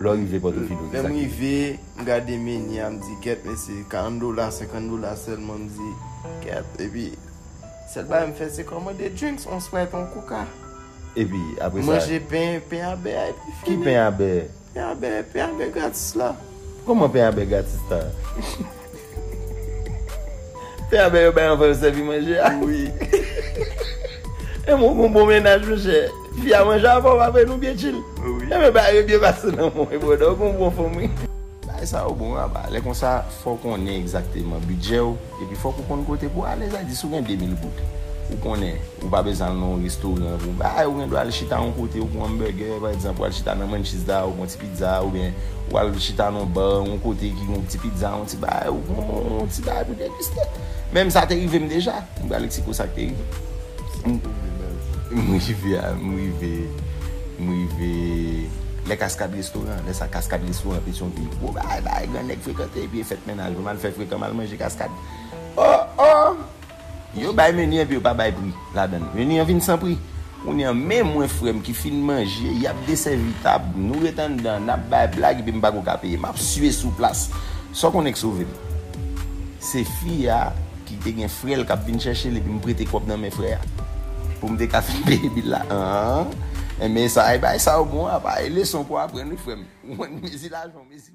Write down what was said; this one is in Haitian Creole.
Lè w rive Pòtoprens ou di sa ki. Lè m rive, m gade meni a, m di kèt men se 40 dola, 50 dola sèlman, m di kèt. Epi, sèl bagay m fè se kòmande drinks, on sprite, on coca. Epi, apre sa. M manje pen, pen a bè a epi fini. Ki pen a bè? Pen a bè, pen a bè gratis la. Kòman pen a bè gratis la? Fè a bè yo bay anvan yo sèvi manje a wi. Enben ou gen yon bon mennaj monchè. Fi a manje avan w apre nou byen chill. Enben bagay yo byen pase nan men w wi brother ou gen yon bon fanm wi. Bagay sa yo bon aba. Lè konsa fò w konnen egzakteman bidjè w epi fòk ou konn kote pou w ale sa di si w gen 2000 goud ou konnen ou pa bezwen al nan yon restoran pou bagay ou gen dwa al chita yon kote ou pran yon bègè pa egzanp ou al chita nan Mancheez la ou pran ti Pizza ou byen ou al chita nan yon bar yon kote ki gen yon ti pizza yon ti bagay ou pran yon ti bagay pou degiste menm sa te rivem deja m pral eksplike w sa k te rivem m rive a m rive m rive lè kaskad restoran lè sa kaskad restoran petion ville gwo bagay bagay gran nèg frekante epi e fèt mennaj m al fè frekan m al manje kaskad o o Yo bay menu epi yo pa bay pri ladann. Menu an vin san pri. Kounye an men mwen frèm ki fin manje, yap desèvi tab, nou ret anndan, nap bay blag epi m pako ka peye. Map sue sou plas. Saw konnen k sove m? Se fi a ki te gen frè l kap vin chèche l epi m prete kòb nan men frè a pou m te ka fin peye bil la. Aah enben sa e bagay sa yo bon apa e leson pou aprann wi frèm. Ou konn mezi lajan ou mezi.